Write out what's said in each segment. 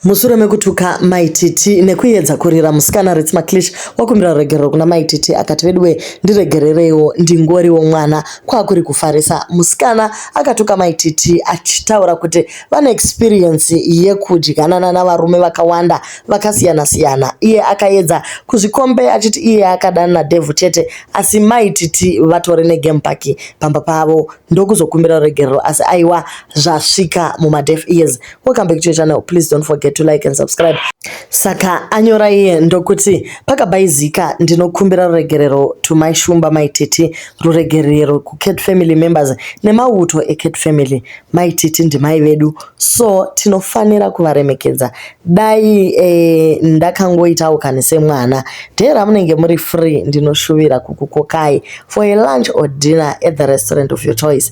Mushure mekutuka mai Titi nekuyedza kurira musikana Rits Maclish wakumbira ruregerero kuna mai Titi akati veduwe ndiregerereiwo ndingoriwo mwana kwakuri kufarisa. Musikana akatuka mai Titi achitaura kuti vane experience yekudyanana navarume vakawanda vakasiyana siyana. Iye akayedza kuzvikombe achiti iye akadana naDevil chete asi mai Titi vatore negame park pamba pavo ndokuzokumbira ruregerero asi aiwa zvasvika mumadef ears. welcome back to your channel please don't forget to like and subscribe saka anyora iye ndokuti pakabaizika ndinokumbira ruregerero to my shumba my titi ruregerero kucat family members nemauto ecat family my titi ndimai vedu so tinofanira kuvaremekedza dai eh, ndakangoitawo kani semwana dee ramunenge muri free ndinoshuvira kukukokai for a lunch or dinner at the restaurant of your choice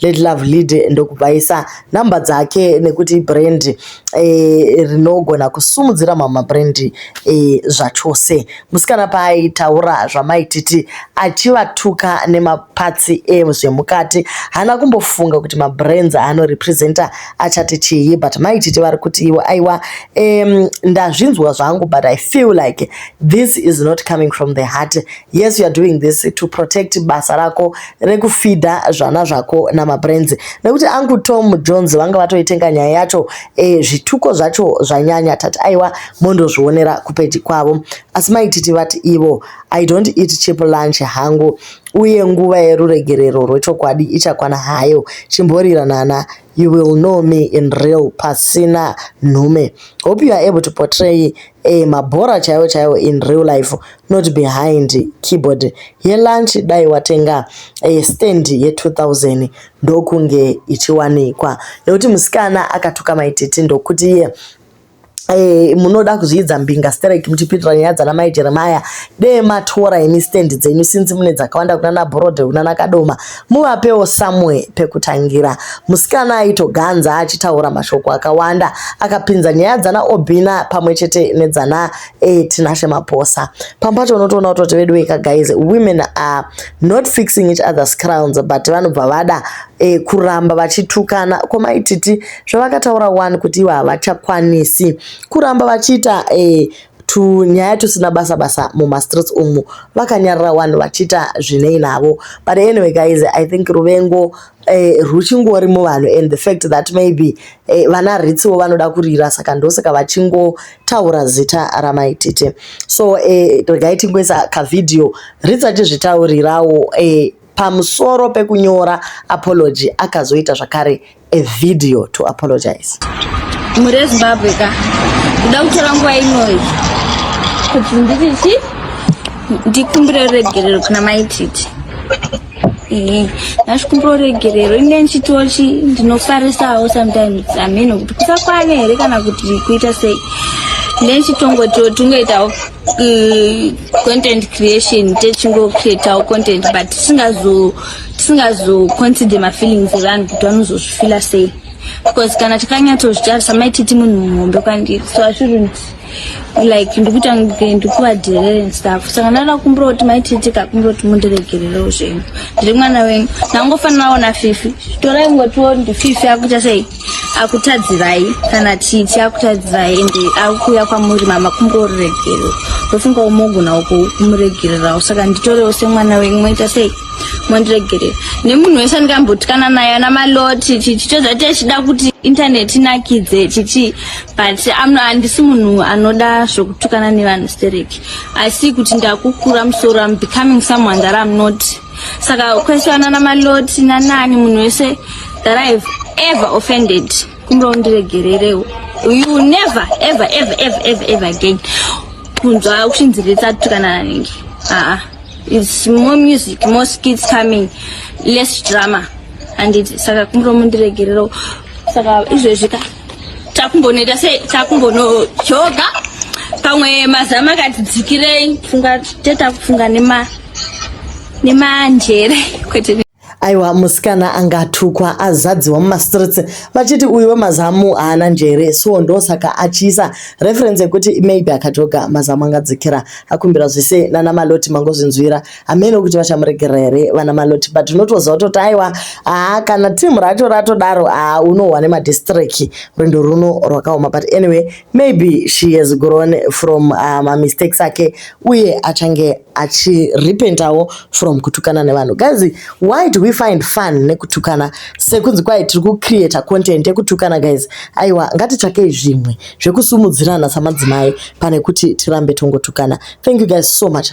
Let Love Lead ndokubvaisa namba dzake nekuti brand e, eh, rinogona kusimudzira mama brand e, eh, zvachose musikana paaitaura zvamaititi achivatuka nemapatsi ezvemukati eh, haana kumbofunga kuti mabrands aanorepresenta achati chii but maititi vari kuti iwo aiwa um, ndazvinzwa zvangu but i feel like this is not coming from the heart yes youare doing this to protect basa rako rekufidha zvana zvako namabrands nekuti angu tom jones vanga vatoitenga nyaya yacho e, zvituko zvacho zvanyanya tati aiwa mondozvionera kupeji kwavo asi maititi vati ivo i don't eat chip lunch hangu uye nguva yeruregerero rwechokwadi ichakwana hayo chimborirana you will know me in real pasina nhume hope you are able to portray a mabhora chaiwo chaiwo in real life not behind keyboard yelunch dai watenga a stand ye 2000 ndokunge ichiwanikwa nekuti musikana akatuka maititi ndokuti iye yeah. Eh, munoda kuzviidza mbinga sterek muchipindura nyaya dzana mai jeremaya dee matora imi stand dzenyu sinzi mune dzakawanda kunana borode kunana kadoma muvapewo somewhere pekutangira musikana aitoganza achitaura mashoko akawanda akapinza nyaya dzana obina pamwe chete nedzana eh, tinashe maposa pampacho unotoona kutoti vedu weka guys women are not fixing each other's crowns but vanobva vada eh, kuramba vachitukana komaititi zvavakataura wani kuti ivo havachakwanisi kuramba vachiita eh, tunyaya tusina basa basa mumastreets umu vakanyarira wani vachiita zvinei navo but anyway guys i think ruvengo eh, rwuchingori muvanhu and the fact that maybe eh, vana ritsiwo vanoda kurira saka ndosaka vachingotaura zita ramaitite so eh, regai tingoisa kavhidhiyo ritsi achizvitaurirawo eh, pamusoro pekunyora apology akazoita zvakare a video to apologize mhuri yezimbabwe ka kuda kutora nguva inoyi kuti ndirichi ndikumbira ruregerero kuna maititi ehe ndachikumbira ruregerero ine ndichitochi ndinofarisawo sometimes amheno kuti kusakwane here kana kuti kuita sei ine ndichitongotiwo tingoitawo uh, content creation techingocreatawo content but tisingazo so, tisingazoconsider mafeelings evanhu kuti vanozozvifila sei because kana tikanyatsozvitarisa maititi munhu muhombe kwandiri so ashouldnt like ndikuita ndikuvadirere nstuff saka ndaida kumbira kuti maititi kakumbira kuti mundiregererewo zvenyu ndiri mwana wenyu ndangofanirawo nafifi torai ngotiwo ndififi akuita sei akutadzirai kana titi akutadzirai ende akuuya kwamuri mama kumboruregerera ndofunga umogonawo kumuregererawo saka nditorewo semwana wenyu moita sei mondiregerera nemunhu wese andikambotikana naye ana maloti titi tozati achida kuti intaneti inakidze titi but handisi munhu anoda zvokutukana nevanhu stereki asi kuti ndakukura musoro am becoming someone that am not saka kwesiyana namaloti nanani munhu wese that i have ever offended kumbe undiregererewo you never ever ever ever ever ever again kunzwa kuchinzi letsa tukana nanenge aa its more music more skits coming less drama anditi saka kumbe mundiregererewo saka izvezvi ka takumbonoita se takumbonojoga pamwe mazama akati dzikirei funga teta kufunga nema nemanjere kwete aiwa musikana angatukwa azadziwa mumastreets vachiti uyu wemazamu haana njere so ndosaka achiisa reference yekuti maybe akatoga mazamu angadzikira akumbira zvese nana maloti mangozvinzwira hameno kuti vachamuregerera here vana maloti but unotoziva kutoti aiwa haa kana team racho ratodaro haa unohwa nemadistrict rwendo runo rwakaoma but anyway maybe she has grown from uh, mamistakes ake uye achange achirepentawo from kutukana nevanhu guys why do we find fun nekutukana sekunzi kwai tiri kucreata content yekutukana guys aiwa ngatitsvakei zvimwe zvekusumudzirana samadzimai pane kuti tirambe tongotukana thank you guys so much